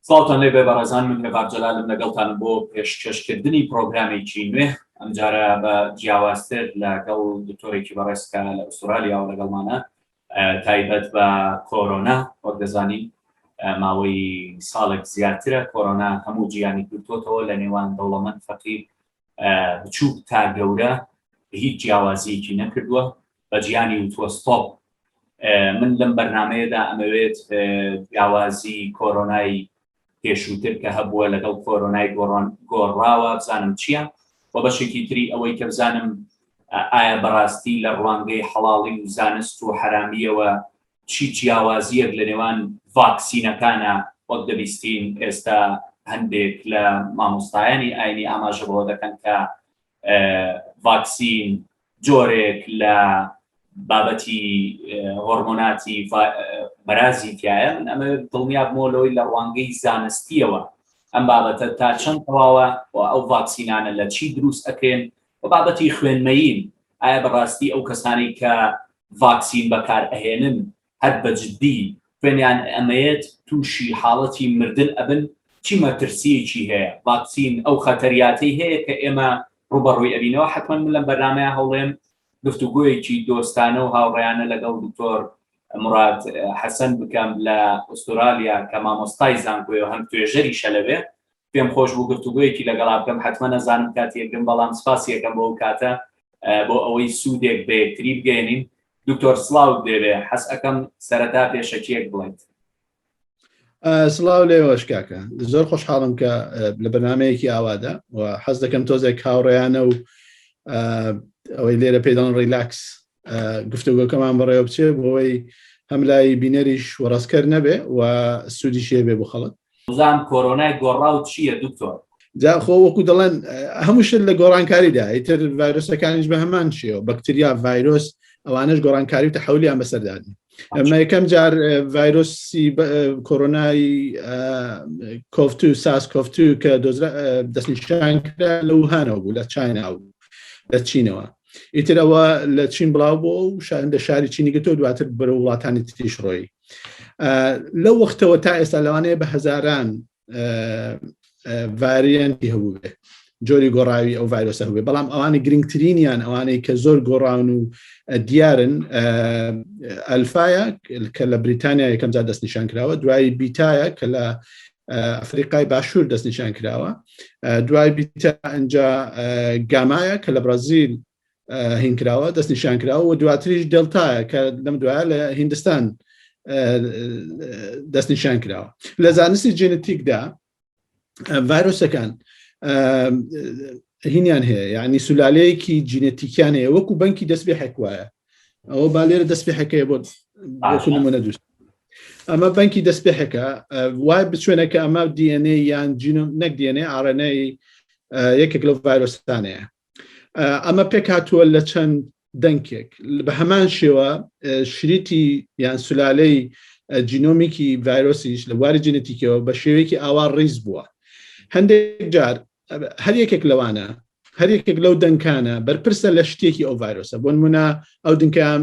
سڵاوتان لێ بێ بەڕێزان من هێڤار جەلالم لەگەڵتانم بۆ پێشکەشکردنی پرۆگرامێکی نوێ ئەمجارە بە جیاوازتر لەگەڵ دکتۆرێکی بەڕێز کە لە ئوسترالیا و لەگەڵمانە تایبەت بە کۆرۆنا، وەک دەزانین ماوەی ساڵێک زیاترە کۆرۆنا هەموو جیهانی گرتۆتەوە لە نێوان دەوڵەمەند فەقیر، بچووک تا گەورە هیچ جیاوازیەکی نەکردووە بە جیهانی وتووە ستۆپ. من لەم بەرنمەیەدا ئەمەوێت جیاوازی کۆرۆنای پێشووتر کە هەبووە لەگەڵ کۆرۆنای گۆڕان گۆڕاوە بزانم چییە و بەشێکی تری ئەوەی کە بزانم ئایا بەڕاستی لە ڕوانگەی حەڵاڵی و زانست و حەرامیەوە چی جیاوازیەک لە نێوان ڤاکسینەکانە وەک دەبیستین ئێستا هەندێک لە مامۆستایانی ئاینی ئاماژە بەوە دەکەن کە ڤاکسین جۆرێک لە بابەتی هۆرمۆناتی بەرازی تایە من ئەمە دڵنیابمەوە لەوەی لە ڕوانگەی زانستیەوە ئەم بابەتە تا چەند تەواوە و ئەو ڤاکسینانە لە چی دروست ئەکرێن و بابەتی خوێنمەین ئایا بەڕاستی ئەو کەسانی کە ڤاکسین بەکار ئەهێنن هەر بە جدی خوێنیان ئەمەیەت توشی حاڵەتی مردن ئەبن چی مەترسیەکی هەیە ڤاکسین ئەو خەتەریاتەی هەیە کە ئێمە ڕوبەڕوی ئەبینەوە حەتمەن من لەم بەرنامەیە هەوڵێم گفتوگۆیەکی دۆستانە و هاوڕێیانە لەگەڵ دکتۆر مراد حەسەن بکەم لە ئوسترالیا کە مامۆستای زانکۆیە هەم توێژەریشە لەوێ پێم خۆش بوو گفتوگویەکی لەگەڵا بکەم حتممە نەزانم کاتی یەکرم بەڵام سپاسی یەکەم بۆ ئەو کاتە بۆ ئەوەی سوودێک بە یەکتری بگەێنین دکتۆر سلااوت دەوێ حەس ئەەکەم سەرەتا پێشەکیەک بڵێت سلااو لێوەش کاکە زۆر خۆشحاڵم کە لە بەنامەیەکی ئاوادا و حەز دەکەم تۆزێک کاوڕێیانە و ئەوەی لێرە پێدان ڕیلاکس گفتوگۆکەمان بەڕێوە بچێ بۆەوەی هەم لای بینەریش وەڕاستکەر نەبێ و سوودی شێ بێ بۆ خەڵک زان کۆرۆنای گۆڕاو چییە دکتۆر جاخۆ وەکو دەڵێن هەموو شت لە گۆڕانکاریدا ئیتر ڤایرۆسەکانیش بە هەمان شێەوە بەکتریا ڤایرۆس ئەوانش گۆڕانکاری و تەحولیان بەسەردادن ئەمە یەکەم جار ڤایرۆسی کۆرۆنای کۆفت و ساس کۆفت و کە دەستنیشان لە وهانەوە بوو لە چیناوە لە چینەوە ئیتر ئەوە لە چین بڵاو بۆ و لە شاری چینی گەتۆ دواتر بەرە وڵاتانی تریش ڕۆی لە وەختەوە تا ئێستا لەوانەیە بە هەزاران ڤریانتی هەبوو بێ جۆری گۆڕاوی ئەو ڤایرۆسە هەبێ بەڵام ئەوانی گرنگترینیان ئەوانەی کە زۆر گۆڕاون و دیارن ئەلفاە کە لە بریتانیا یەکەمجار دەستنیشان کراوە دوایی بیتایە کە لە ئەفریقای باشوور دەستنیشان کراوە دوای بیتە ئەجا گامایە کە لە بڕازیل هینکراوە دەستنیشان کراوە و دواتریش دڵتایە کە لەم دوایە لە هندستان دەستنیشان کراوە لە زانستی جێنتیکدا ڤایرۆسەکان هینیان هەیە یعنی سولالەیەکی جینەتیکیان هەیە وەکو بەنکی دەست بێ حکوایە ئەوە با لێرە دەست پێحەکەی بۆ نمونە دوست ئەمە بەنکی دەست پێحەکە وای بچێنە کە ئەمە DNA یان جینۆم نەک DNA ئاڕێنەی یەکێک لەو ڤایرۆستانەیە ئەمە پێک هاتووە لە چەند دەنکێک بە هەمان شێوە شریتی یان سولالەی جینۆمیکی ڤایرۆسیش لە بواری جینەتیکەوە بە شێوەیەکی ئاوا ڕیز بووە هەندێک جار هەر یەکێک لەوانە هەر یەکێک لەو دەنکانە بەرپرسە لە شتێکی ئەو ڤایرۆسە بۆن منە ئەو دنکام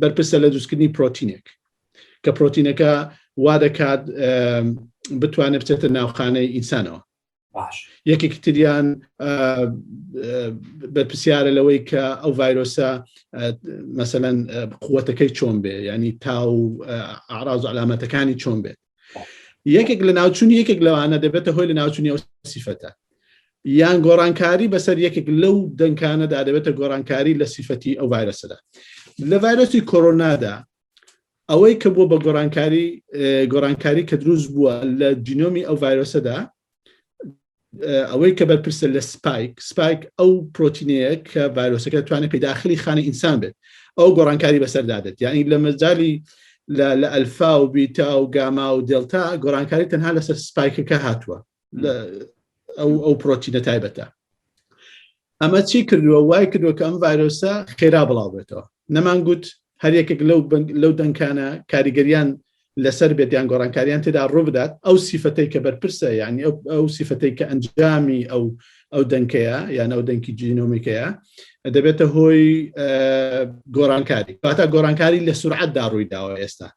بەرپرسە لە دوستکردنی پرۆتینێک کە پرۆتینەکە وا دەکات بتوانێت بچێتە ناوخانەی ئینسانەوە یەکێکی تریان بەرپسیارە لەوەی کە ئەو ڤایرۆسە مەسەەن قوتەکەی چۆن بێ ینی تا و ئاراز و علامەتەکانی چۆن بێت یەکێک لە ناوچوونی یەکێک لەوانە دەبێتە هۆی لە ناوچوونی ئەو سیفەتە یان گۆڕانکاری بەسەر یەکێک لەو دەنکانەدا دەبێتە گۆڕانکاری لە سیفەتی ئەو ڤایرسەدا لە ڤایرسی کۆرۆنادا ئەوەی کە بووە بە گۆڕانکاری گۆڕانکاری کە دروست بووە لە جینۆمی ئەو ڤایرۆسەدا ئەوەی کە بەرپرسە لە سپایک سپایک ئەو پرۆتینەیە کە ڤایرۆسەکە توانێت پیداخلی خانە ئینسان بێت ئەو گۆڕانکاری بەسەردا بێت یعنی لە مەجای لە ئەلفا و بیتا و گاما و دلتا گۆڕانکاری تەنها لەسەر سپایکەکە هاتووە ئەو ئەو پرۆتینە تایبەتە ئەمە چی کردووە وای کردووە کە ئەم ڤایرۆسە خێرا بڵاو بێتەوە نەمان گوت هەر یەکێک لەو لەو دەنکانە کاریگەریان لەسەر بێت یان گۆڕانکاریان تێدا ڕووبدات ئەو سیفەتەی کە بەرپرسە یعنی ئەو سیفەتەی کە ئەنجامی ئەو ئەو دەنکەیە یان ئەو دەنکی جینۆمیکەیە دەبێتە هۆی گۆڕانکاری کاتا گۆڕانکاری لە سرعەتدا ڕووی داوە ئێستا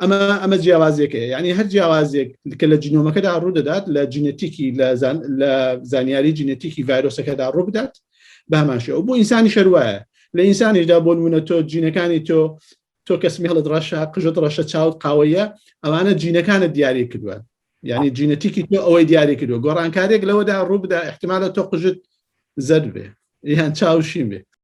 ئەمە ئەمە جیاوازێکە ینی هەر جیاوازێک کە لە جنۆمەکەدا ڕوو دەدات لە جینەتیکی لە زانیاری جینەتیکی ڤایرۆسەکەدا ڕوو بدات باماشە و بۆ ئینسانی شەروایە لە ئینسانیشدا بۆ نمونە تۆ جینەکانی تۆ تۆ کەسمی هەڵت ڕەشە قژت ڕەشە چاوت قاوەیە ئەوانە جینەکانت دیاری کردووە یعنی جینەتیکی تۆ ئەوەی دیاری کردو گۆڕانکارێک لەوەدا ڕووبدا احتمالە تۆ قژت زەر بێ یان چاوشین بێ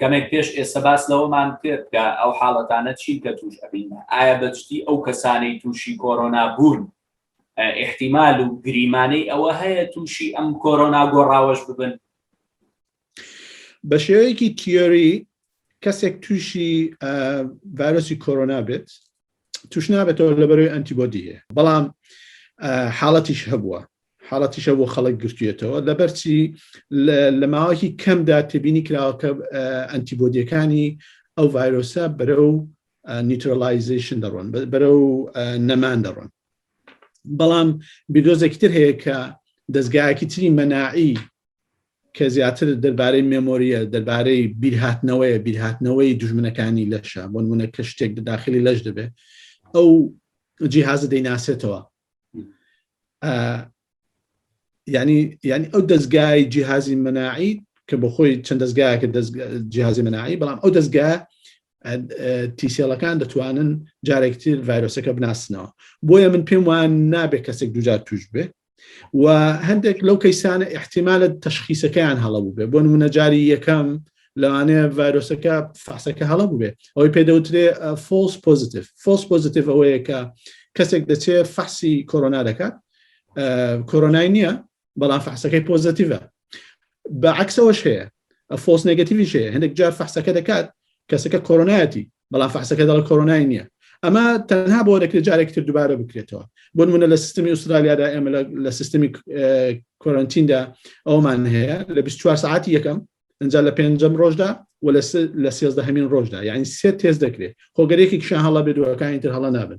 کەمێک پێش ئێستا باس لەوەمان کرد کە ئەو حاڵەتانە چین کە توش ئەبین ئایا بەجدی ئەو کەسانەی تووشی کۆرۆنا بوون احتیمال و گریمانەی ئەوە هەیە تووشی ئەم کۆرۆنا گۆڕاوەش ببن بە شێوەیەکی تیۆری کەسێک تووشی ڤایرۆسی کۆرۆنا بێت توش نابێتەوە لەبەرەوەی ئەنتیبۆدی هەیە بەڵام حاڵەتیش هەبووە حاڵەتیشە بۆ خەڵک گرتوێتەوە لەبەرچی لە ماوەکی کەمدا تێبینی کراوەکە ئەنتیبۆدیەکانی ئەو ڤایرۆسە بەرە و نیترۆلایزیشن دەڕۆن بەرە و نەمان دەڕۆن بەڵام بیدۆزێکی تر هەیە کە دەستگایەکی تری مەناعی کە زیاتر دەربارەی مێمۆرییە، دەربارەی بیرهاتنەوەیە، بیرهاتنەوەی دوژمنەکانی لەشە، بۆ نموونە کە شتێک لە داخلی لەش دەبێت، ئەو جیهازە دەیناسێتەوە. یعنی یعنی ئەو دەستگای جیهازی مەناعی کە بۆ خۆی چەند دەستگایەکە جیهازی مەناعی بەڵام ئەو دەستگا تیسێڵەکان دەتوانن جارێکتر ڤایرۆسەکە بناسنەوە بۆیە من پێم وان نابێت کەسێک دوجار توش بێ و هەندێک لەو کەیسانە احتیمالە تەشخیسەکەیان هەڵە بووبێ بۆ نمونەجاری یەکەم لەوانەیە ڤایرۆسەکە فاسەکە هەڵە بووێ ئەوەی پێدەوترێ فۆس پۆزیتیف فۆس پۆزیتیف ئەوەیە کە کەسێک دەچێ فەحسی کۆرۆنا دەکات کۆرۆنای نییە بەڵام فەحسەکەی پۆزیتیڤە بە عکسەوەش هەیە فۆس نگەتیویش هەیە هەندێک جار فەحسەکە دەکات کەسەکە کۆرۆنایەتی بەڵام فەحسەکە دەڵە کۆرۆنای نییە ئەمە تەنها بۆ دەکرێت جارێکی تر دووبارە بکرێتەوە بۆ منە لە سیستمی ئوسترالیادا ئێمە لە سیستمی کۆرنتیندا ئەومان هەیە لە 24 ساعتی یەکەم ئەجا لە پێنجەم ڕۆژدا و لە سێزدە هەمین ڕۆژدا یعنی سێ تێز دەکرێت خۆگەرێکی کشە هەڵە بێت دوەکانی تر هەڵە نابن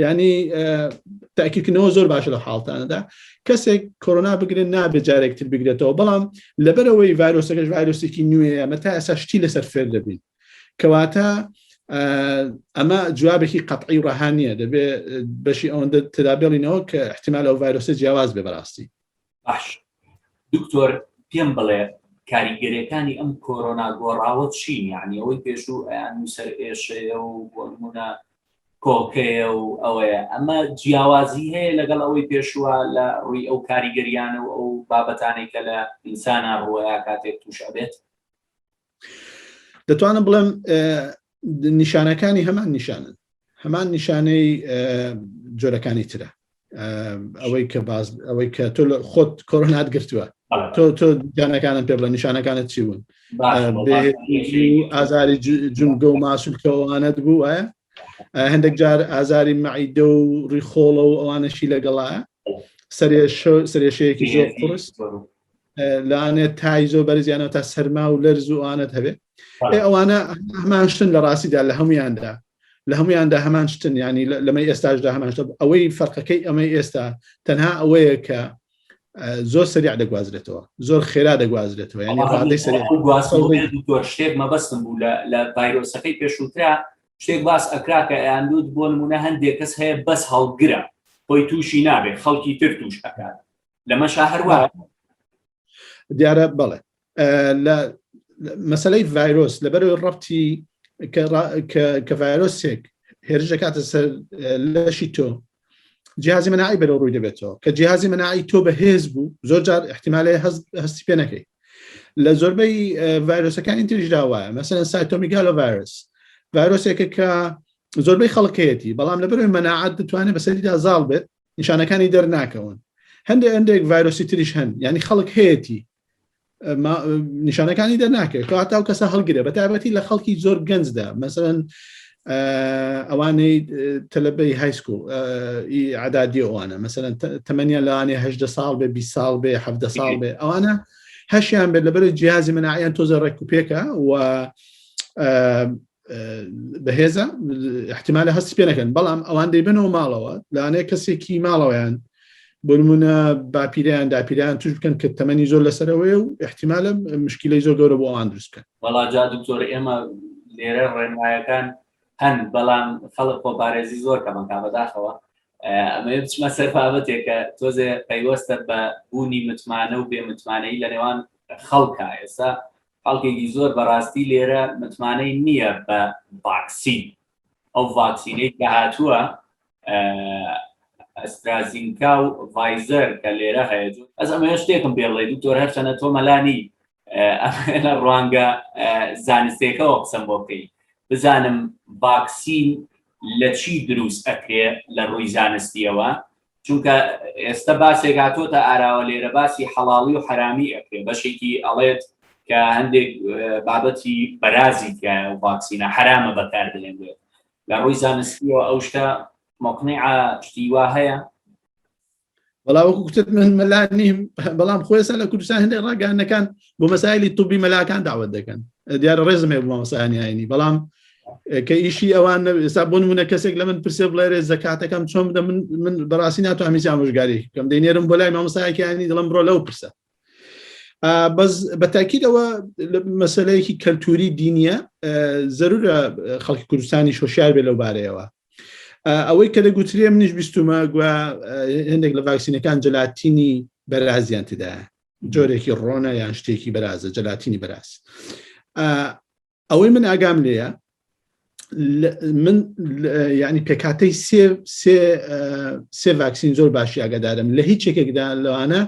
ینی تاکیکردنەوە زۆر باشە لە حاڵتانەدا کەسێک کۆرۆنا بگرێت نابێت جارێکتر بگرێتەوە بەڵام لەبەرەوەی ڤایرۆسەکەش ڤایرۆسێکی نوێیە مە تا ئەسا شتی لەسەر فێر دەبین کەواتە ئەمە جوابێکی قەتعی و ڕەها نییە دەبێ بەشی ئەوەندە ترابێڵینەوە کە احتیمال ئەو ڤایرۆسە جیاواز بێ بەڕاستی باش دکتۆر پێم بڵێ کاریگەرەکانی ئەم کۆرۆنا گۆڕاوە چین یعنی ئەوەی پێشوو ئەیان نووسەر ئێشەیە و بۆنمونە کۆکەیە و ئەوەیە ئەمە جیاوازی هەیە لەگەڵ ئەوەی پێشووە لە ڕووی ئەو کاریگەریانە و ئەو بابەتانێکە لە ئینسانە ڕوەیە کاتێک تووشە بێت دەتوانم بڵێم نیشانەکانی هەمان نیشانن هەمان نیشانەی جۆرەکانی ترە ئەوەی کە باز ئەوەی کە تۆ لە خۆت کۆرۆنات گرتووە تۆ تۆ جانەکانم پێ بڵە نیشانەکانت چی بوون ئازاری جونگە و ماسولکەوانت بوو وایە هەندێک جار ئازاری معیدە و ڕیخۆڵە و ئەوانەشی لەگەڵە سەرێشەیەکی زۆر قرس لەوانێت تای زۆر بەرزیانەوە تا سەرما و لەرز و ئەوانت هەبێت ئەوانە هەمان شتن لە ڕاستیدا لە هەمویاندا لە هەمویاندا هەمان شتن ینی لەمەی ئێستاشدا هەمان شتە ئەوەی فەرقەکەی ئەمەی ئێستا تەنها ئەوەیە کە زۆر سەریا دەگوازرێتەوە زۆر خێرا دەگوازرێتەوە ینی ڕادەی سەر شتێک مەبەستم بوو لە ڤایرۆسەکەی پێشووترا شتێک باس ئەکرا کە ئەیاندود بۆ نمونە هەندێک کەس هەیە بەس هەڵگرە خۆی تووشی نابێت خەڵکی تر توش ئەکات لەمەشا هەروە دیارە بەڵێ لە مەسلەی ڤایرۆس لەبەرەوەی ڕەتی کە ڤایرۆسێک هێرش دەکاتە سەر لەشی تۆ جیازی مناعی بەرە ڕووی دەبێتەوە کە جیازی مناعی تۆ بەهێز بوو زۆر جار احتیمالێ هەستی پێ نەکەی لە زۆربەی ڤایرۆسەکانی تریش داوە مەسەن سایتۆمیگالۆ ڤایرس ڤایرۆسێکە کە زۆربەی خەڵکەتی بەڵام لەبەرەوەی مەناعات دەتوانێت بەسەریدا زاڵ بێت نیشانەکانی دەرناکەون هەندێک هەندێک ڤایرۆسی تریش هەن یعنی خەڵک هەیەی نیشانەکانی دەرناکەێت هاتا و کەسە هەڵگرێ بە تابەتی لە خەڵکی زۆر گەنجدا مەسەن ئەوانەی تەلبەی هایسکو عدادی ئەوانە مەسەن تەمەنیان لەوانێ هەدە ساڵ بێ بی ساڵ بێ ه ساڵ بێ ئەوانە هەشیان بێت لەبەر جیازی منعیان تۆزە ڕێک و پێکە و بەهێزە احتمالە هەست پێ نەکەن بەڵام ئەوان دەیبنەوە ماڵەوە لاانێ کەسێکی ماڵەوەیان بنمونە باپیریان داپیران توش بکەن کە تەمەنی زۆر لەسەرەوەی و احتمالە مشکلی زۆر گەورە بۆ ئەوان دروست بکەن بەڵا جا دکتۆر ئێمە لێرە ڕێنمایەکان هەن بەڵام خەڵک خۆپارێزی زۆر کەمەکە بەداخەوە ئەمە بچمە سەر بابەتێکە تۆزێ پەیوەستە بە بوونی متمانە و بێ متمانەی لە نێوان خەڵکە ئێستا خەڵکێکی زۆر بەڕاستی لێرە متمانەی نییە بە ڤاکسین ئەو ڤاکسینەی کە هاتووە ئەسترازینکا و ڤایزەر کە لێرە هەیە ئەز ئەمە شتێکم پێڵێ دکتۆر هەرچەنە تۆ مەلانی لە ڕوانگە زانستێکەوە قسەم بۆ بکەیت بزانم ڤاکسین لە چی دروست ئەکرێ لە ڕووی زانستیەوە چونکە ئێستا باسێک هاتۆتە ئاراوە لێرە باسی حەڵاڵی و حرامی ئەکرێ بەشێکی ئەڵێت کە هەندێک بابەتی بەرازی تایە و ڤاکسینە حرامە بەکار دەێنێت لە ڕووی زانستیەوە ئەو شتە مقنع شتیوا هەیە بەڵا وەکو کوتت من مەلا نیم بەڵام خۆێستا لە کوردستان هەندێک ڕاگەانەکان بۆ مەسایلی توبی مەلاکان داوت دەکەن دیارە ڕێزمێ بۆ مەسانیانی بەڵام کە ئیشی ئەوان ئێستا بۆ منە کەسێک لە من پرسێ بڵێرێ زکاتەکەم چۆن بدە من من بەڕاستی ناتوانانی جامژگاری کەم دەینێرم بۆ لای مامۆستایەکیانی دڵم بڕۆ لەو پرسە بەس بەتاکیدەوە مەسلەیەکی کەلتوری دینیە زەرورە خەڵکی کوردستانی شۆشار بێ لەو بارەیەوە ئەوەی کە دەگوترێ منیش بیستمە گویا هەندێک لە ڤاکسینەکان جلاتینی بەرازیان تدا جۆرێکی ڕۆنە یان شتێکی بەرازە جلاتینی بەراز ئەوەی من ئاگام لێە من ینی پێکاتەی سێ سێ سێ ڤاکسین زۆر باشی ئاگادارم لە هیچ یەکێکدا لەوانە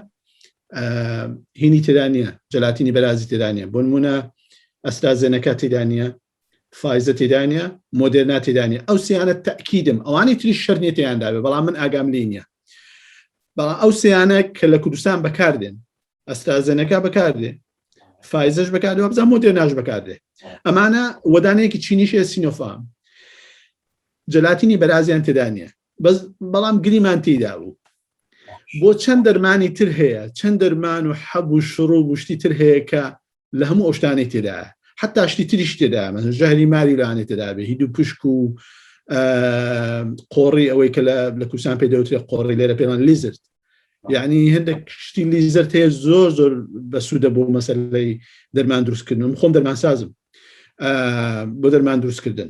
هینی تێدانە جلاتینی بەرازی تێدانە بۆ نمونە ئەستا زێنەکە تێدانە فایزە تێدانە مۆدرنا تێدانە ئەو سیانە تاکیدم ئەوانی تری شەرنێتیانداێ بەڵام من ئاگام لینە بەڵام ئەو سیانە کە لە کوردستان بەکاردێن ئەسترازێنەکە بەکاردێ فایزش بەکار بزە مۆدێ ناش بەکاردێ ئەمانە وەدانەیەکی چینیشێ سینۆفام جلاتینی بەرازیان تێدا نیە بەس بەڵام گریمان تێدا بوو بۆ چەند دەرمانی تر هەیە چەند دەرمان و حەب و شڕ و گشتی تر هەیە کە لە هەموو ئەو شتانەی تێدایە حتا شتی تریش تێدا من ژەهری ماری لەوانێت تێدابێ هی دوو پشک و قۆڕی ئەوەی کە لە کوردستان پێ دەوترێ قۆڕی لێرە پێمان لیزرد یعنی هەندێک شتی لیزرد هەیە زۆر زۆر بە سوودە بۆ مەسەلەی دەرمان دروستکردن خۆم دەرمان سازم بۆ دەرمان دروستکردن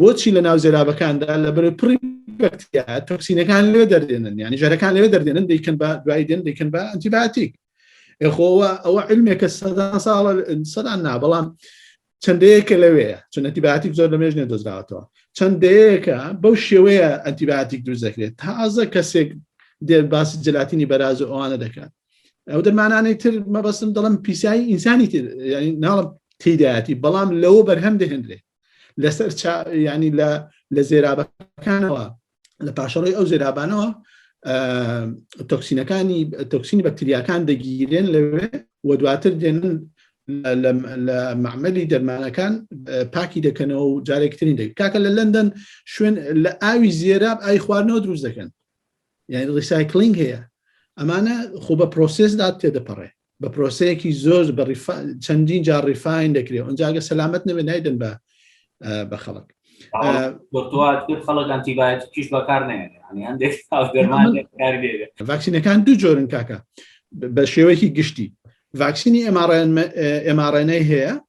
بۆچی لە ناو زێرابەکاندا لە بەرە پڕی بەکتیا تۆکسینەکان لێ دەردێنن یعنی ژەرەکان لێ دەردێنن دەیکەن بە دوای دێن دەیکەن بە ئەنتیباتیک خۆوە ئەوە علمێکە سەدان ساڵە سەدان نا بەڵام چەندەیەکە لەوەیە چون ئەتیباتیک زۆر لە مێژنێ دۆزراوەتەوە چەندەیەکە بەو شێوەیە ئەتیباتیک دروست دەکرێت تازە کەسێک دێر باسی جلاتینی بەراز و ئەوانە دەکات ئەو دەمانانەی تر مەبەستم دەڵم پیسایی ئینسانی تر ناڵم تیدایەتی بەڵام لەوە بەرهەم دەهێنرێ لەسەر ینی لە زێرابەکانەوە لە پاشەڕی ئەو زێرابانەوە تۆکسینەکانی تۆکسینی بەکتریاکان دەگیرێن لەوێ و دواتر دێنن لە معمەلی دەرمانەکان پاکی دەکەنەوە و جارێکترین دەکە کاکە لە لەندەن شوێن لە ئاوی زێراب ئای خواردنەوە دروست دەکەن یعنی ڕیسایکلینگ هەیە ئەمانە خۆ بە پرۆسسدا تێدەپەڕێ بە پرۆسەیەکی زۆر بە چەندین جار ڕیفاین دەکرێت ئەنجاگە سەلامت نەبێت نایدن بە بە خەڵک خەڵک ئەنتیبایت پیش بەکار ڤاکسینەکان دوو جۆرن کاکە بە شێوەیەکی گشتی ڤاکسینی ئەماڕێنەی هەیە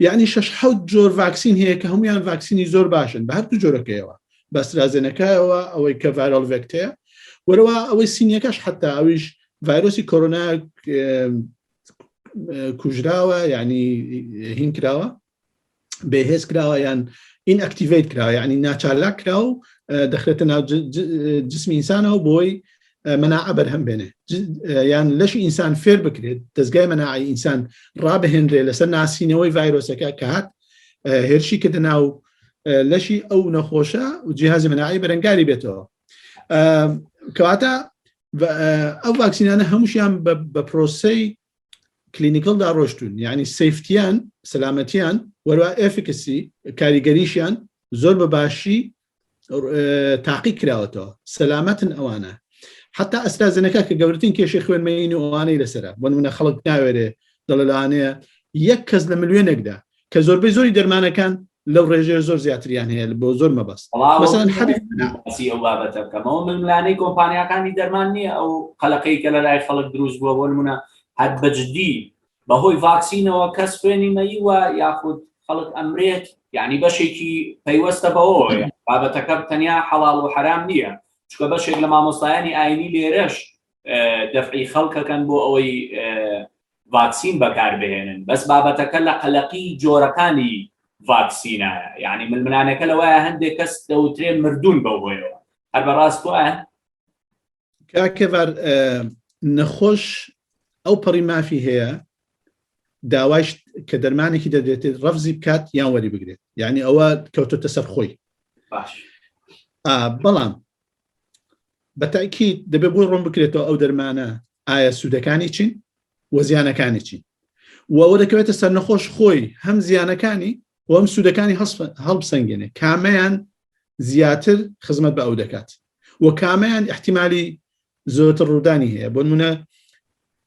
یعنی شش حوت جۆر ڤاکسین هەیە کە هەمویان ڤاکسینی زۆر باشن بە هەردوو جۆرەکەیەوە بەسترازێنەکەەوە ئەوەی کە ڤایرۆل ڤێکتەیە وەرەوە ئەوەی سینیەکەش حتا ئەویش ڤایرۆسی کۆرۆنا کوژراوە یعنی هین کراوە بەهێز کراوە یان ئین ئەکتیڤیت کراوە یعنی ناچارلاک کرا و دەخرێتە ناو جسمی ئینسانەوە بۆی مەناعە بەرهەم بێنێ یان لەشی ئینسان فێر بکرێت دەستگای مەناعی ئینسان ڕابهێنرێ لەسەر ناسینەوەی ڤایرۆسەکە کە هات هێرشی کە دەناو لەشی ئەو نەخۆشە و جیهازی مەناعی بەرەنگاری بێتەوە کەواتە ئەو ڤاکسینانە هەمووشیان بە پرۆسی کلینیکلدا ڕۆشتون یعنی سفتیان سەلامەتیان وەروا ئەفکسی کاریگەریشیان زۆر بە باشی تاقی کراوەتەوە سەلامەتن ئەوانە حتا ئەستازنەکە کە گەورترین کێشی خوێنمەین و ئەوانەی لەسرە بۆ منە خەڵک ناوێرێ دەڵلانەیە یەک کەس لە ملوێنێکدا کە زۆربەی زۆری دەرمانەکان لەو ڕێژێ زۆر زیاتریان هەیە بۆ زۆر مەبەست ئەو بابەتە بکەمەوە ململانەی کۆمپانیەکانی دەرمان نییە ئەو قەلەقەی کە لە لای خەڵک دروست بووە بۆ منە هەر بەجددی بەهۆی ڤاکسینەوە کەس خوێنی مەیوە یاخود خەڵک ئەمرێت یعنی بەشێکی پەیوەستە بەوەیە بابەتەکە تەنیا حەڵال و حرام نییە چکە بەشێک لە مامۆستایانی ئاینی لێرەش دەفعی خەڵکەکەن بۆ ئەوەی ڤاکسین بەکاربهێنن بەس بابەتەکە لە قەلەقی جۆرەکانی ڤاکسینە یعنی ململانەکە لەوەیە هەندێک کەس دەوترێ مردون بەوهۆیەوە هەر بەڕاست وایە کاکەڤار نەخۆش ئەو پەڕی مافی هەیە داوایش کە دەرمانێکی دەدرێتێت ڕەفزی بکات یان وەری بگرێت یعنی ئەوە کەوتۆتە سەر خۆی بەڵام بەتاکی دەبێت بۆی ڕۆم بکرێتەوە ئەو دەرمانە ئایا سوودەکانی چین وە زیانەکانی چین وەوە دەکەوێتە سەر نەخۆش خۆی هەم زیانەکانی و ئەم سوودەکانی هەڵبسەنگێنێ کامەیان زیاتر خزمەت بە ئەو دەکات و کامەیان احتیممالی زۆرتر ڕوودانی هەیە بۆ منە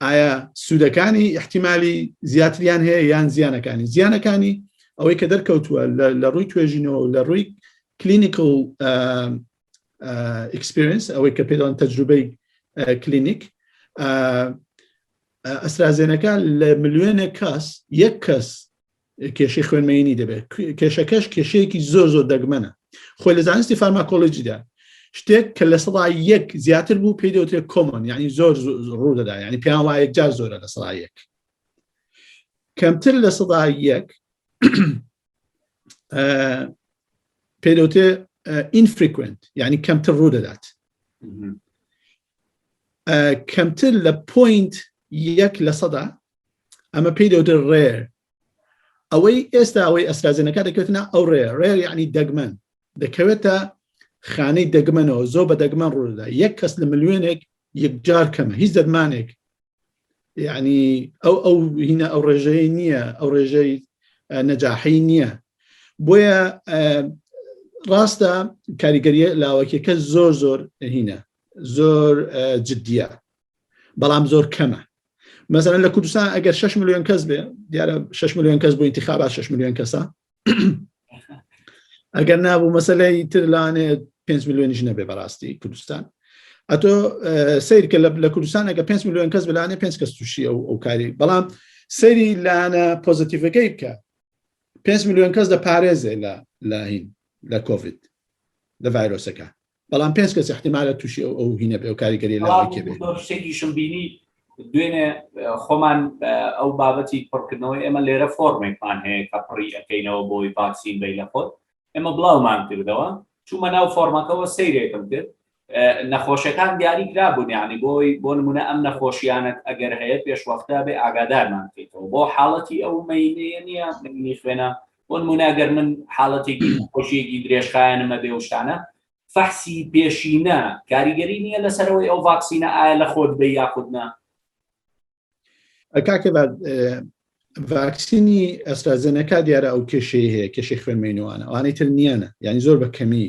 ئایا سوودەکانی احتیممالی زیاتریان هەیە یان زیانەکانی زیانەکانی ئەوەی کە دەرکەوتووە لە ڕووی توێژینەوە لە ڕووی کلینیکل ئکسپرینس ئەوەی کە پێدان تەجروبەی کلینیک ئەسرازێنەکە لە ملیۆنە کەس یەک کەس کێشەی خوێن مەینی دەبێت کێشەکەش کێشەیەکی زۆر زۆر دەگمەنە خۆی لە زانستی فارماکۆلۆژیدا شتێک کە لە سەدا یەک زیاتر بوو پێی دەوتێ کۆمۆن ینی زۆر ڕوو دەدا ینی پێیان وایەک جار زۆرە لە سەدا یەک کەمتر لە سەدا یەک پێدەوتێ ئینفریکوێنت ینی کەمتر ڕوو دەدات کەمتر لە پوینت یەک لە سەدا ئەمە پێی دەوتر ڕێر ئەوەی ئێستا ئەوەی ئەسرازێنەکە دەکەوتنا ئەو ڕێ ڕێر یعنی دەگمەن دەکەوێتە خانەی دەگمەنەوە زۆر بە دەگمەن ڕوودا یەک کەس لە ملیێنێک یەکجار کەمە هیچ دەرمانێک یعنی ئەو ئەو هینە ئەو ڕێژەی نییە ئەو ڕێژەی نەجاحی نییە بۆیە ڕاستە کاریگەریە لاوەکیەکە زۆر زۆر هینە زۆر جددیە بەڵام زۆر کەمە مەسەرەن لە کوردستان ئەگەر 6 میلیۆن کەس بێ دیارە 6 میلیۆن کەس بۆ انتخابا 6 میلیۆن کەسە ئەگەر نابوو مەسلەی تر لاانێ 5 میلیۆنیش نەبێ بەڕاستی کوردستان ئەتۆ سیرکە لە کوردستان ئەگە 5 میلیۆن کەس بلانێ 5 کەس تووشی ئەو ئەو کاری بەڵام سەری لاانە پۆزتیفەکەی بکە 5 میلیۆن کەس دە پارێزێ لە لاهین لە کۆڤید لە ڤایرۆسەکە بەڵام پێنج کەس احتیمالە تووشی ئەو ئەو هینە بێ و کاریگەری لەشتێکیشم بینی دوێنێ خۆمان ئەو بابەتی پڕکردنەوەی ئێمە لێرە فۆرمێکمان هەیە کە پڕی ئەەکەینەوە بۆی ڤاکسین بی لە خۆت ئێمە بڵاومان کردەوە چوومە ناو فۆرمەکەەوە سیرێکم کرد نەخۆشەکان دیاری کرا بوون یعنی بۆی بۆ نمونە ئەم نەخۆشیانت ئەگەر هەیە پێشوەختە بێ ئاگادارمان بکەیتەوە بۆ حاڵەتی ئەو مینەیە نییە منی خوێنە بۆن موناگەر من حاڵەتێکی خۆشیەکی درێژخایەنەمە بێ وشتانە فەحسی پێشینە کاریگەری نییە لەسەرەوەی ئەو ڤاکسینە ئایا لە خۆت بە یاخودنا کاکە ڤاکسینی ئەسرازێنەکە دیارە ئەو کێشەی هەیە کێشی خوێنمەینوانە ئەوانەی تر نییانە ینی زۆر بە کەمی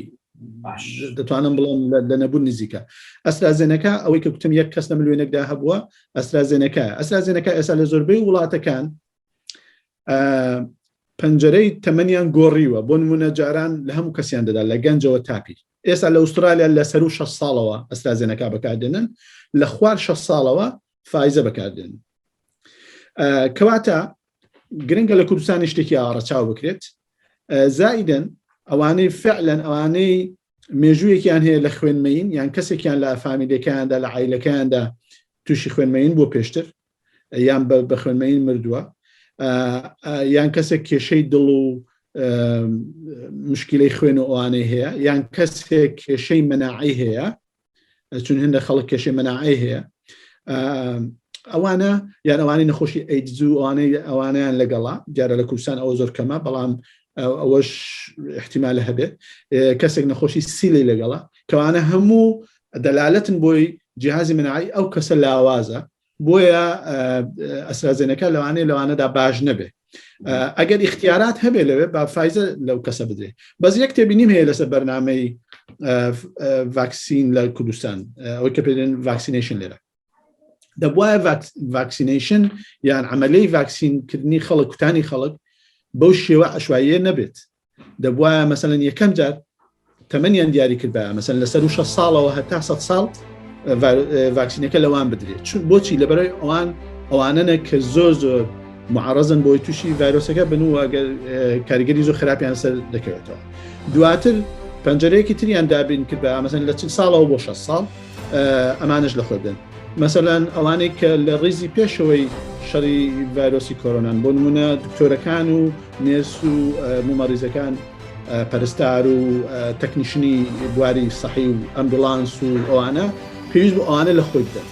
دەتوانم بڵم لە نەبوون نزیکە ئەسرازێنەکە ئەوەی کە کوتم یەک کەس لە ملوێنێکدا هەبووە ئەسرازێنەکە ئەسرازێنەکە ئێستا لە زۆربەی وڵاتەکان پەنجەرەی تەمەنیان گۆڕیوە بۆ نمونە جاران لە هەموو کەسیان دەدا لە گەنجەوە تاپی ئێستا لە ئوسترالیا لە سەر و 6 ساڵەوە ئەسترازێنەکە بەکاردێنن لە خوار 6 ساڵەوە فایزە بەکاردێن کەواتە گرنگە لە کوردستانی شتێکی ئاڕەچاو بکرێت زائیدن ئەوانەی فعلەن ئەوانەی مێژوویەکیان هەیە لە خوێنمەین یان کەسێکیان لە فامیلەکەیاندا لە عیلەکەیاندا تووشی خوێنمەین بۆ پێشتر یان بە خوێنمەین مردووە یان کەسێک کێشەی دڵ و مشکلەی خوێن و ئەوانەی هەیە یان کەسێک کێشەی مەناعی هەیە چون هەندە خەڵک کێشەی مەناعی هەیە ئەوانە یان ئەوانەی نەخۆشی ئەیدزوو ئەوانەی ئەوانیان لەگەڵا دیارە لە کوردستان ئەوە زۆر کەمە بەڵام ئەوەش احتیمالە هەبێت کەسێک نەخۆشی سیلی لەگەڵا کەوانە هەموو دەلالەتن بۆی جیهازی مناعەی ئەو کەسە لاوازە بۆیە ئەسرازێنەکە لەوانەیە لەوانەدا باش نەبێ ئەگەر اختیارات هەبێ لەوێ با فیزە لەو کەسە بدرێ بەس یەک تێبینیم هەیە لەسەر بەرنمەی ڤاکسین لە کوردستان ئەوەی کە پێدێن ڤاکسینیشن لێرە دەبواە ڤاکسینیشن یان عملی ڤاکسینکردنی خەڵک کوتانی خەڵک بەو شێوە عشواییە نەبێت دەبوایە مەسەن یەکەم جار تەمەنیان دیاری کردبایە مەسەن لە سەر و 6 ساڵەوە هەتا 100 ساڵ ڤاکسینەکە لەوان بدرێت چون بۆچی لەبەرەوەی ئەوان ئەوانەنە کە زۆر زۆر معڕزن بۆی تووشی ڤایرۆسەکە بن و ئەگەر کاریگەری زۆر خراپیان سەر دەکەوێتەوە دواتر پەنجەرەیەکی تریان دابین کرد بە ئامەزن لە چل ساڵەوە بۆ 6 ساڵ ئەمانش لە خۆدن مەسەلاەن ئەوانەی کە لە ڕیزی پێشەوەی شەڕی ڤایرۆسی کۆرۆنان بۆ نمونە دکتۆرەکان و نێرس و مومەڕیزەکان، پەرستار و تەکنیشنی بواری سەحی و ئەمبوڵانس و ئەوانە پێویست بوو ئەوانە لە خۆی بدەن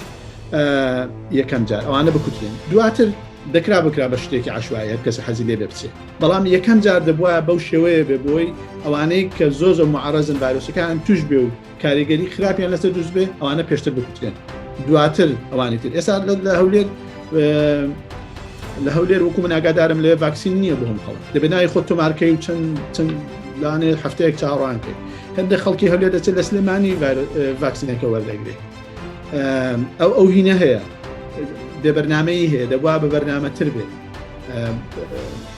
یەکەم جار ئەوانە بکوترێن دواتر دەکرا بکرا بە شتێکی عشوایە کەس حەزی لێ بچێت بەڵام یەکەم جار دەبووە بەو شێوەیە بێ بۆی ئەوانەی کە زۆ زۆ معڕزن ڤایرۆسەکان توش بێ و کاریگەری خراپیان لەسەر دروست بێ ئەوانە پێشتر بکوترێن دواتر ئەوانی تر ئێستا لە هەولێر لە هەولێر وەکو من ئاگادارم لێ ڤاکسین نییە بۆ هەم خەڵک دەبێ ناوی خۆ تۆمارکەی و چەند چەند لانێ هەفتەیەک چاڕان کرد هەندێک خەڵکی هەولێر دەچێت لە سلێمانی ڤاکسینەکە وەردەگرێت ئەو ئەو هینە هەیە بێ بەرنمەی هەیە دەبوا بە بەرنامە تر بێت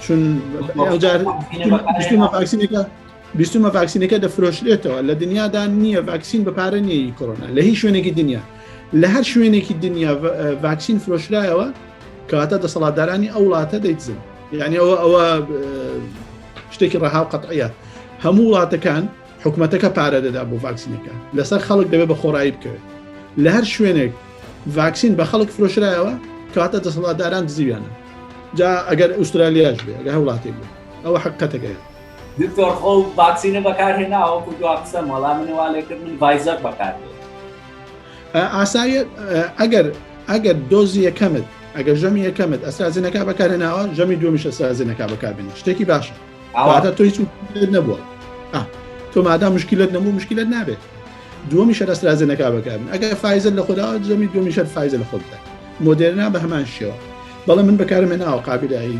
چون ئەوجار ڤاکسینەکە بیستمە ڤاکسینەکە دەفرۆشرێتەوە لە دنیادا نییە ڤاکسین بە پارە نیەی کۆرۆنا لە هیچ شوێنێکی دنیا لە هەر شوێنێکی دنیا ڤاکسین فرۆشرایەوە کەواتە دەسەڵاتدارانی ئەو وڵاتە دەیتزن یعنی ئەوە ئەوە شتێکی ڕەها و قەتعە هەموو وڵاتەکان حکوومەتەکە پارە دەدا بۆ ڤاکسینەکە لەسەر خەڵک دەبێت بە خۆڕایی بکەوێت لە هەر شوێنێک ڤاکسین بە خەڵک فرۆشرایەوە کەواتە دەسەڵاتداران دزیویانە جا ئەگەر ئوسترالیاش بێ ئەگە هەوڵاتێک بێت ئەوە حقەتەکەیە دکتۆر خۆ ڤاکسینە بەکار هێنا وەکو دوا قسەم وەڵا من وا لێ کرد من ڤایزەر بەکار هێنا. ئاسایە ئەگەر ئەگەر دۆزی یەکەمت ئەگەر ژەمی یەکەمت ئەسرازینەکە بەکارهێناوە ژەمی دومیش ئەسرازینەکە بەکاربێنی شتێکی باشە ئاواتە تۆی چوو نەبووە تۆ مادا مشکلت نەبوو مشکلت نابێت دومی شەر ئەسرازینەکە بەکارن ئەگەر فایزل لە خۆدا ژەمی دومی شەر فایزە لە خۆ بدە مۆدێرنا بە هەمان شێوە بەڵام من بەکارمێناوە قابلایی